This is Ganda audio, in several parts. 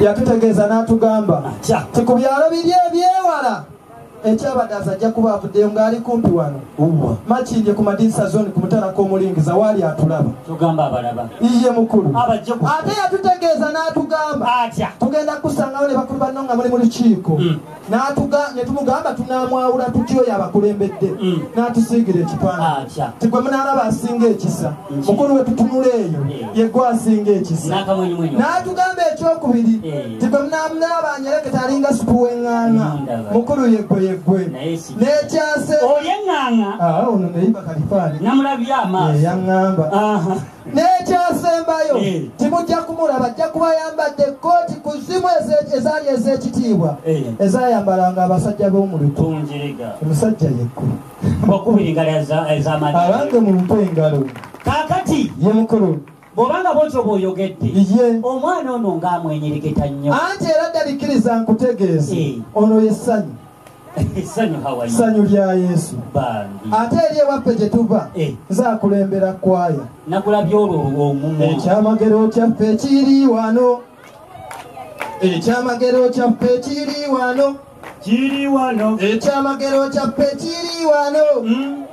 yatutegeeza n'atugamba ti ku byalo biri ebyewala ekyabadaza ajja kuba avuddeyo ng'ali kumpi wano makindye ku madinisa zoni ku mutala k'omulingiza waali atulaba iye mukulu ate yatutegeeza n'atugamba tugenda kusangawo ne bakulu banno nga muli mu lukiiko hmm. ne tumugamba tunaamwawula tutya oyo abakulembedde mm. n'atusiigira ekifaananyi ah, tigwe munaalaba asinga ekisa mm. mukulu we tutunula eyo mm. yegwe asinga ekisa n'atugamba ekyokubiri tigwe munaalaba anyereke talinga supu w'eŋŋaana mukulu yegwe yegwe n'ekyase olyeŋŋaana ah, ono neyibakalifaani namulabye amaaso yaŋŋamba n'ekyasembayo eh. timujja kumulaba ajja kuba yambadde ekkooti ku zimu ezaali ez'ekitiibwa eh. ezayambalanga abasajja b'omulito omusajja yekku abange mu mpa engalo kakati ye mukulu bwobanga bwotyo bwoyogedde omwana ono ng'amwenyereketa nnyo anti era ddabikkiriza nkutegeeze eh. ono yesanyu ssanyu lya yesu ate eri ewaffe gye tuva eh. nzakulembera kwaya ekyamagero kyaffe kiri wano ekyamagero kyaffe kiri wano ekyamagero kyaffe kiri wano hmm?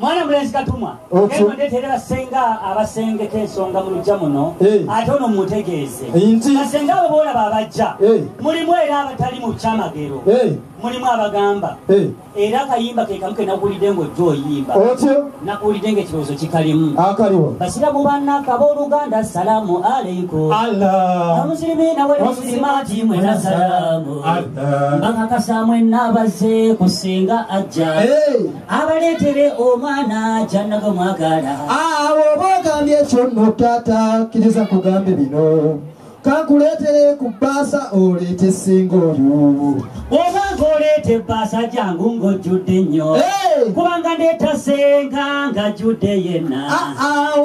mwana mulenzi katumwa eno ndeterera senga abasengeka ensonga mu lujja muno eh. ate ono mumutegeeze basenga abo boolaba abajja eh. mulimu era abatali mu kyamagero eh. mulimu abagamba era akayimba kekamu ke nakuwulidde ngaojja oyimba nakuwulidde nga ekirowoozo kikalimu basiramu bannaka booluganda salaamu aleikum amusirimiina wali musirimaati mwena salaamu bakakasa mwenna abazze kusinga ajja abaleetere omwana kyanaga mwagala awo oba ogambye ekyo nno taata kkiriza kugambe bino kankuleetere ku bbaasa oleete ssinga oyo oba ng'oleeta ebbaasa jangu ng'ojjudde nnyo kubanga ndeetasenga ng'ajjudde yenna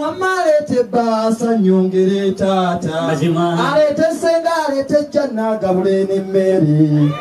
wamma aleeta ebbaasa nnyongere taata aleete ssenga aleete jjanna agabule n'emmere